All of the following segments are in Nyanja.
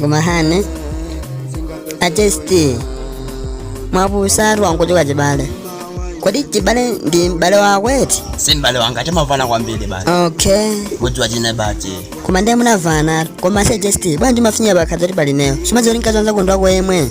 koma hane a Jesti mwapusatu angochoka Chibale kodi Chibale ndi m'bale wako eti si m'bale wanga timamvana kwambiri basi okay kudziwa chine bati koma ndiye mumamvana koma se a Jesti bwanji mafinya bakhaza kuti pali ineyo simadziwa kuti mkazi wa nzako ndi wako yemwe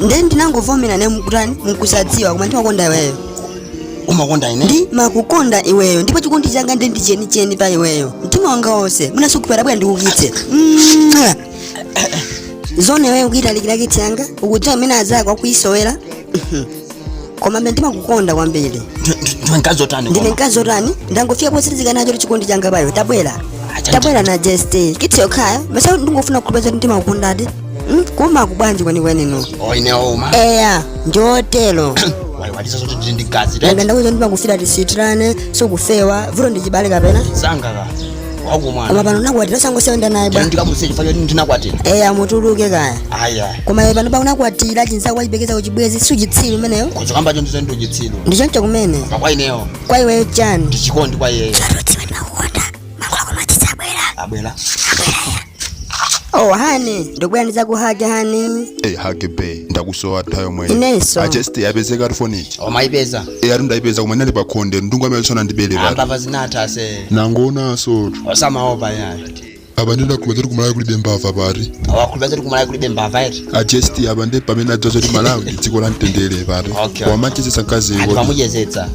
nde ndinangovomera ne nkutani nkusadziwa koma ndimakukonda iweyo umakonda ine ndimakukonda iweyo ndipo chikondi changa nde ndi chenicheni pa iweyo mtima wanga wonse mwina sukumva bwera ndikukise Mwah! zoona iweyo kuitalikira kisi yanga ukudziwa mmene azako akuisowera koma mbe ndimakukonda kwambiri ndiwe mkazi otani ndine koma? mkazi otani ndangofika posilizika nacho chikondi changa pa iwe tabwera Acha tabwera na just kisi yokhayo mesa ndingofuna kuproveza kuti ndimakukondadi Mm, koma ku bwanji kwenikweni no Oh, ine ouma eya ndiotero waiwalisa zoti ndili ndi mkazi nanga ndakuuza ndimakufira tisitirane siukufewa vuto ndi Chibale kapena sangaka wangu mwana koma pano unakwatira osangosiya kuyenda naye bwa ndikamusiye chifukwa choti ndinakwatira eya mutuluke kaya aya koma iwe panopa unakwatira chinzako wachiperekeza kuchibwezi siuchitsiru umenewo uchikamba cho ndi zoona ndiuchitsiru ndichoncho kumene koma kwa ineyo kwa iweyo chani ndichikondi kwa iyeyo abwera oh hani ndikubwera ndizakuhage hani eyi hage babe ndakusowa tayo mwenye Inenso. a Jesti yapezeka ati foni ija omayipeza eyi ati ndayipeza koma inali pa khonde ndiye ungwa amene sanayi ndibere pati ambava zinatha se nangoonansotu osamaopa yayo apa ndinakhulupiriradi kuti ku Malawi kulibe mbava pati awakhulupeza kuti ku Malawi kulibe mbava eti a Jesti apa ndi pamene adziwa zoti Malawi ndi dziko la mtendere pati Okay. wamachezetsa mkazi anthu kuti amuchezetsa